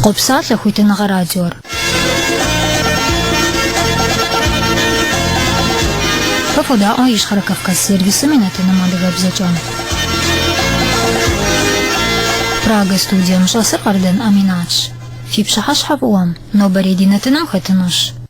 Къопсалъэ хуитыныгъэ радиор. Фэ фодаӏуэ Ищхъэрэ Кавказ сервисым и нэтыным адыгэбзэкӏэ. Прага студием щӏэсыр Къардэн Аминатщ. Фи пщыхьэщхьэ фӏыуэм, нобэрей ди нэтыным хэтынущ.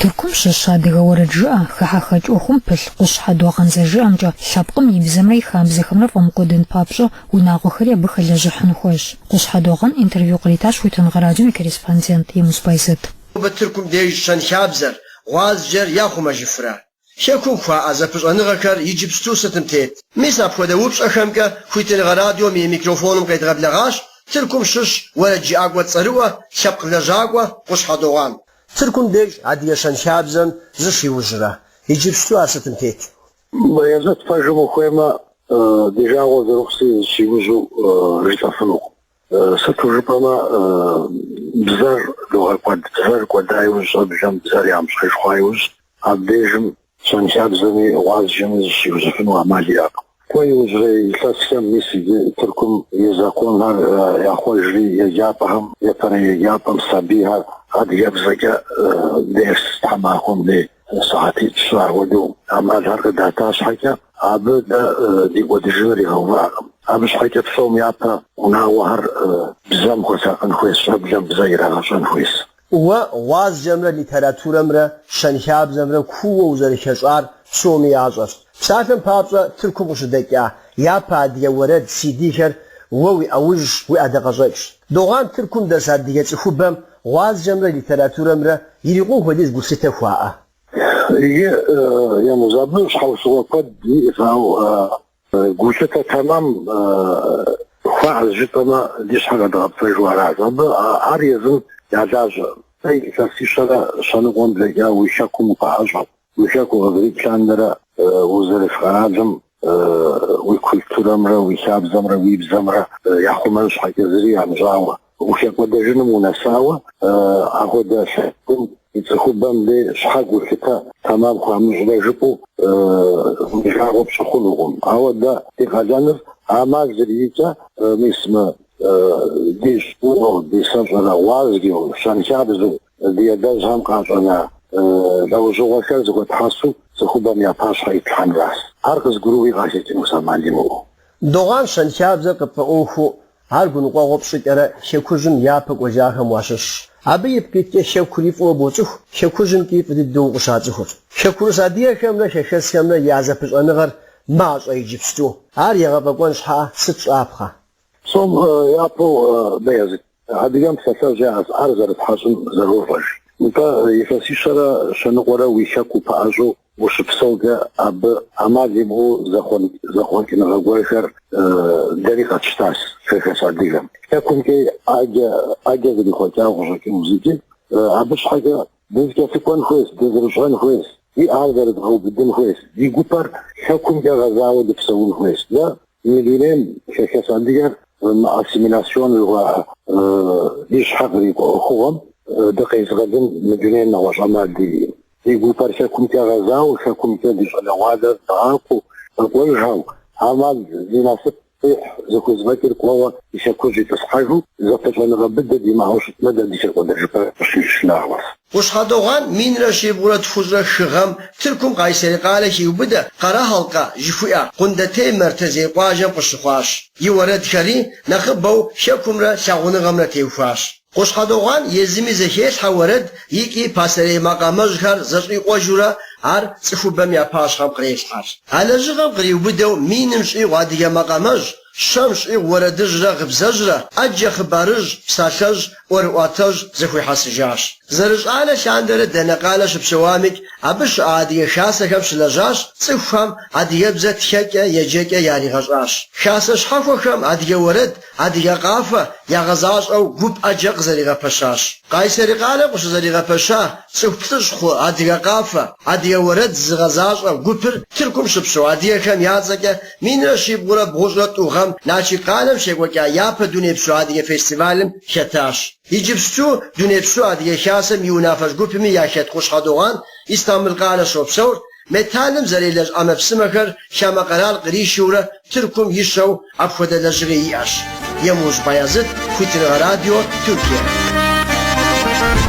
Тыркум щыщ адыгэ уэрэджыӏэ, хыхьэхэкӏ ӏуэхум пылъ Къущхьэ Догъан зэрыжиӏэмкӏэ, лъэпкъым и бзэмрэ и хабзэхэмрэ фӏэмыкӏуэдын папщӏэ, унагъуэхэри абы хэлэжьыхьын хуейщ. Къущхьэ Догъан интервью къритащ Хуитыныгъэ радиом и корреспондент Емуз Байзэт. Нобэ Тыркум деж щэнхабзэр, гъуазджэр яхъумэжыфрэ? Хэкум хуаӏэ зэпыщӏэныгъэхэр иджыпсту сытым тет. Мис апхуэдэ упщӏэхэмкӏэ Хуитыныгъэ радиом и микрофоным къедгъэблэгъащ Тыркум щыщ уэрэджыӏакӏуэ цӏэрыӏуэ, лъэпкъ лэжьакӏуэ Къущхьэ Догъан. Тыркум деж адыгэ щэнхабзэм зыщиужьрэ, иджыпсту ар сытым тет. Бэязэт, пэжым ухуеймэ, ди жагъуэ зэрыхъущи, зыщиужьу жысӏэфынукъым. Сыту жыпӏэмэ, бзэр догъэкӏуэд. Бзэр кӏуэда иужь, щӏэблэм бзэр ямыщӏэж хъуа иужь, абдежым щэнхабзэми гъуазджэми зыщиужьыфыну ӏэмал иӏэкъым. Кӏуэ иужьрей илъэсхэм мис иджы Тыркум и законхэр яхъуэжри, еджапӏэхэм, епэрей еджапӏэм сабийхэр адыгэбзэкӏэ дерс тхьэмахуэм дей. Сыхьэтитӏ-щы ахуэдэу ӏэмалхэр къыдата щхьэкӏэ, абы дэ ди кӏуэдыжыныр игъэувакъым. Абы щхьэкӏэ псом япэ унагъуэхэр бзэм хуэсакъын хуейщ, щӏэблэм бзэ ирагъэщӏэн хуейщ. Уэ гъуазджэмрэ литературэмрэ щэнхабзэмрэ кууэ узэрыхэщӏар псоми ящӏэщ. Псалъэм папщӏэ, Тыркум къыщыдэкӏа япэ адыгэ уэрэд CD-хэр уэ уи ӏэужьщ, уи ӏэдакъэщӏэкӏщ. Догъан, Тыркум дэс адыгэ цӏыхубэм Гъуазджэмрэ литературэмрэ ирикъун хуэдиз гулъытэ хуаӏэ. Иджы Емуз, абы щхьэусыгъуэ куэд иӏэщ, ауэ гулъытэ тэмэм хуаӏэщ жытӏэмэ, ди щхьэр къэдгъэпцӏэжу аращ. Абы ар езым я лажьэ. Э илъэсищэрэ щэныкъуэм блэкӏа уи хэкум укъаӏэщӏэт. Уи хэку къызэрикӏ лъандэрэ узэрыс къэралым уи культурэмрэ уи хабзэмрэ уи бзэмрэ яхъумэн щхьэкӏэ зыри ямыщӏауэ ухэкӏуэдэжыным унэсауэ, апхуэдэ лъэпкъым и цӏыхубэм дей щхьэ гулъытэ тэмэм хуамыщӏрэ жыпӏэу уи жагъуэ пщӏы хъунукъым. Ауэ дэ ди къалэныр ӏэмал зэриӏэкӏэ, мис мы ди щӏыуэу, ди сэщӏэрэ гъуазджэу, щэнхабзэу Ди адэжьхэм къащӏэна лӏэужьыгъуэхэр зыхуэтхьэсу цӏыхубэм я пащхьэ итлъхьэнращ. Ар къызыгурыӏуи къахэкӏынущ ӏэмал имыӏэу. Догъан, щэнхабзэр къыпфӏэӏуэхуу, ар гуныкъуэгъуэ пщӏыкӏэрэ Хэкужьым япэ кӏуэжахэм уащыщщ. Абы ипкъ иткӏэ Хэкури фӏыуэ боцӏыху, Хэкужьымкӏи фӏы дыдэу укъыщацӏыхур. Хэкурыс адыгэхэмрэ хэхэсхэмрэ я зэпыщӏэныгъэр мащӏэ иджыпсту. Ар егъэфӏэкӏуэн щхьэкӏэ сыт щӏапхъэ? Псом япэу Бэязыт, адыгэм псалъэжь яӏэщ, ӏэр зэрытхьэщӏым зэрощӏэж. Нтӏэ, илъэсищэрэ щэныкъуэрэ уи хэку пэӏэщӏэу ущыпсэукӏэ, абы ӏэмал имыӏэу зэхъуэн зэхъуэкӏыныгъэ гуэрхэр дэри къэтщтащ, хэхэс адыгэм. Хэкумкӏи ӏэджэ ӏэджэ зэрихъуэкӏауэ къыщӏэкӏынущ икӏи, абы щхьэкӏэ Дызэкӏэлъыкӏуэн хуейщ, дызэрыщӏэн хуейщ, ди ӏэр зэрыдгъэубыдын хуейщ, ди гупэр хэкумкӏэ гъэзауэ дыпсэун хуейщ. Дэ мы дунейм хэхэс адыгэр мы ассимиляцион жыхуаӏэ ди щхьэ кърикӏуэ ӏуэхугъуэм дыкъезыгъэлын мы дунейм нэгъуэщӏ ӏэмал диӏэу. Ди гупэр хэкумкӏэ гъэзауэ, хэкумкӏэ ди щӏалэгъуалэр дгъакӏуэу, къэкӏуэжхэу, ӏэмал зи насып Къихь зыхузэфӏэкӏыр кӏуэуэ и хэкужь итӏысхьэжу, зэпыщӏэныгъэ быдэ димыӏэу щытмэ, дэ ди хэкӏуэдэжыпӏэр къыщищ нагъуэщ. Къущхьэ Догъэн минрэ щибгъурэ тхущӏрэ хы гъэм Тыркум Къайсэри къалэ хиубыдэ Къэрэхьэлкъэ жыхуиӏэ Къундетей Мэртэзей къуажэм къыщыхъуащ. И уэрэдхэри нэхъыбэу Хэкумрэ лъагъуныгъэмрэ теухуащ. Къущхьэ Догъэн езыми зэхелъхьэ уэрэд икӏи пасэрей макъамэжьхэр зэщӏикъуэжурэ ар цӏыхубэм я пащхьэм кърелъхьэж. А лэжьыгъэм къриубыдэу миным щӏигъу адыгэ макъамэжь, щэм щӏигъу уэрэдыжьрэ гъыбзэжьрэ, ӏэджэ хъыбарыжь, псалъэжь, ӏуэрыӏуатэжь зэхуихьэсыжащ. Зэрыщӏалэ лъандэрэ дэнэ къалэ щыпсэуамикӏ, абы щыӏэ адыгэ хасэхэм щылэжьащ, цӏыхухэм адыгэбзэ тхэкӏэ, еджэкӏэ яригъэщӏащ. Хасэ щхьэхуэхэм адыгэ уэрэд, Адыгэ къафэ ягъэзащӏэу гуп ӏэджэ къызэригъэпэщащ. Къайсэри къалэм къыщызэригъэпэща цӏыху плӏыщӏ хъу Адыгэ къафэ, адыгэ уэрэд зыгъэзащӏэ гупыр Тыркум щыпсэу адыгэхэм я цӏэкӏэ минрэ щибгъурэ бгъущӏрэ тӏу гъэм Налшык къалэм щекӏуэкӏа япэ дунейпсо адыгэ фестивалым хэтащ. Иджыпсту Дунейпсо Адыгэ Хасэм и унафэщӏ гупми яхэт Къущхьэ Догъэн Истамбыл къалэ щопсэур, Металлым зэрелэжь ӏэмэпсымэхэр хамэ къэрал къришурэ Тыркум ищэу апхуэдэ лэжьыгъи иӏэщ. Емужь Баязыт, Хуитыныгъэ радио, Тюркие.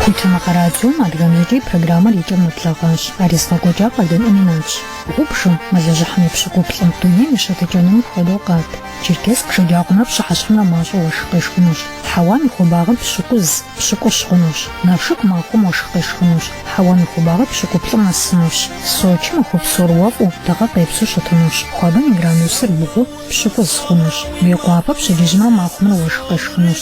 Хуитыныгъэ радиом адыгэбзэкӏэ и программэр и кӏэм нэблэгъащ. Ар езыгъэкӏуэкӏар Къардэн Аминатщ. Гъубжым, мэлыжьыхьым и пщыкӏуплӏым, дунейм и щытыкӏэнур мыпхуэдэу къат. Черкесск шэджагъуэмрэ пщыхьэщхьэмрэ мащӏэу уэшх къешхынущ. Хьэуам и хуабагъыр пщыкӏуз, пщыкӏущ хъунущ. Налшык махуэм уэшх къешхынущ. Хьэуам и хуабагъыр пщыкӏуплӏым нэсынущ. Сочым махуэ псор уэфӏу, дыгъэ къепсу щытынущ. Хуабэм и градусыр бгъу, пщыкӏуз, хъунущ. Мейкъуапэ пщэдджыжьымрэ махуэмрэ уэшх къешхынущ.